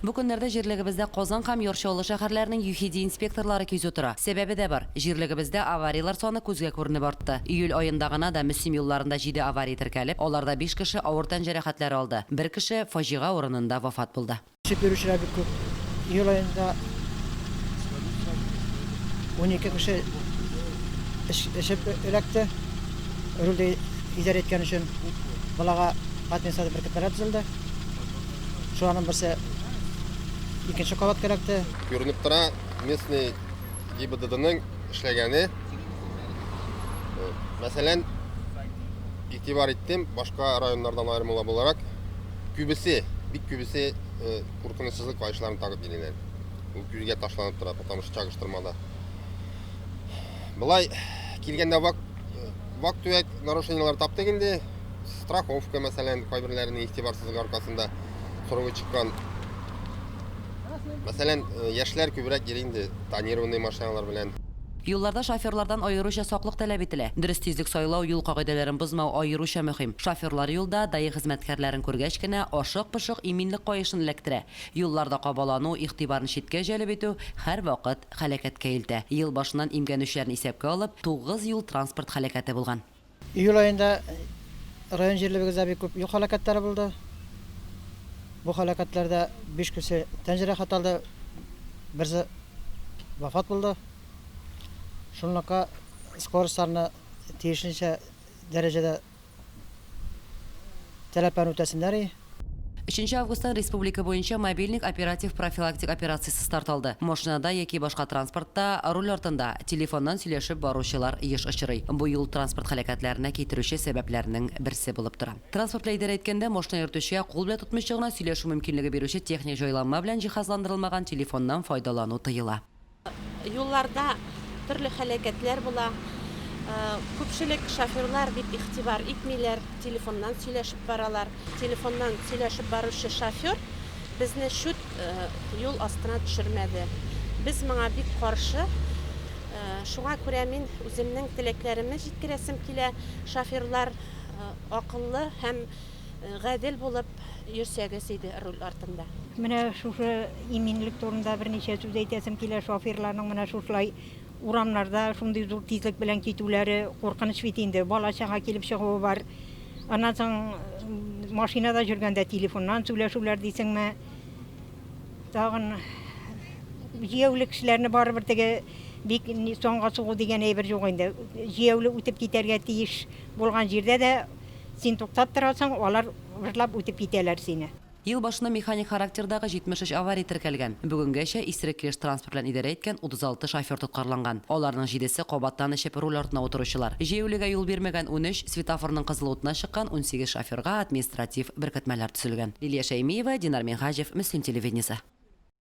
Бу көннәрдә җирлегебездә Казан һәм Яр Чаллы шәһәрләренең ЮХИДИ инспекторлары кизү тора. Сәбәбе дә бар, җирлегебездә аварияләр саны күзгә күренеп артты. Июль аенда гына да Мөслим юлларында җиде авария теркәлеп, аларда биш кеше авыр тән җәрәхәтләре алды, бер кеше фаҗига урынында вафат булды. Шик йөрүчеләр бик күп. Июль аенда унике кеше эчеп эләкте, рульдә идарә иткән өчен. Балага административ беркетмәләр төзелде. Шуларның берсе икенче кабат кәрәкте. Күренеп тора, местный ГИБДДның эшләгәне. Мәсәлән, игътибар иттем, башка районнардан аермалы буларак, күбесе, бик күбесе куркынычсызлык каешларын тагып киләләр. Ул күзгә ташланып тора, потому что чагыштырмада. Былай килгәндә вак вак-төяк нарушениелар таптык инде. Страховка, мәсәлән, кайберләренең игътибарсызлыгы аркасында сорывы чыккан. Мәсәлән, э, яшьләр күбрәк йөри инде тонированный машиналар белән. Юлларда шоферлардан аеруча саклык таләп ителә. Дөрес тизлек сайлау, юл кагыйдәләрен бозмау аеруча мөһим. Шоферлар юлда, даи хезмәткәрләрен күргәч кенә, ашык-пошык иминлек каешын эләктерә. Юлларда кабалану, игътибарны читкә җәлеп итү һәрвакыт һәлакәткә илтә. Ел башыннан имгәнүчеләрне исәпкә алып, тугыз юл-транспорт һәлакәте булган. Июль аенда район җирлебегездә бик күп юл һәлакәтләре булды. Бу һәлакәтләрдә биш кеше тән җәрәхәт алды, берсе вафат булды. Шунлакка скоростьларны тиешенчә дәрәҗәдә таләпләрен үтәсеннәр и. Өченче августтан республика буенча мобильник оператив-профилактик операциясе старт алды. Машинада яки башка транспортта, руль артында, телефоннан сөйләшеп баручылар еш очрый. Бу юл-транспорт һәлакәтләренә китерүче сәбәпләрнең берсе булып тора. Транспорт лидеры әйткәндә, машина йөртүчегә кул белән тотмыйча гына сөйләшү мөмкинлеге бирүче техник җайланма белән җиһазландырылмаган телефоннан файдалану тыела. Юлларда төрле һәлакәтләр була. Күпчелек шоферлар бик игътибар итмиләр, телефоннан сөйләшеп баралар. Телефоннан сөйләшеп баручы шофер безне чүт юл астына төшермәде. Без моңа бик каршы. Шуңа күрә мин үземнең теләкләремне җиткерәсем килә, шоферлар акыллы һәм. Гадел булып йөрсәгез иде руль артында. Менә шушы иминлек турында берничә сүз әйтәсем килә, шоферларның менә шушылай урамнарда шундый зур тизлек белән китүләре куркыныч бит инде, бала чага килеп чыгуы бар. Аннан соң машинада җөргәндә телефоннан сүләшүләр дисеңме. Тагын җияүле кешеләрне барыбер теге бик санга сугу дигән әйбер юк инде. Җияүле үтеп китәргә тиеш булган җирдә дә Син туктап торасың, алар вырлап үтеп китәләр сине. Ел башына механик характердагы 73 авария теркәлгән. Бүгенгәчә исерек килеш транспорт белән идарә иткән 36 шофер тоткарланган. Аларның җидесе, кабаттан эчеп, руль артына утыручылар. Җәяүлегә юл бирмәгән, унөч, светофорның кызыл утына чыккан, унсигез шоферга административ беркетмәләр төзелгән. Лилия Шәймиева, Динар Минһаҗев, Мөслим телевидениесе.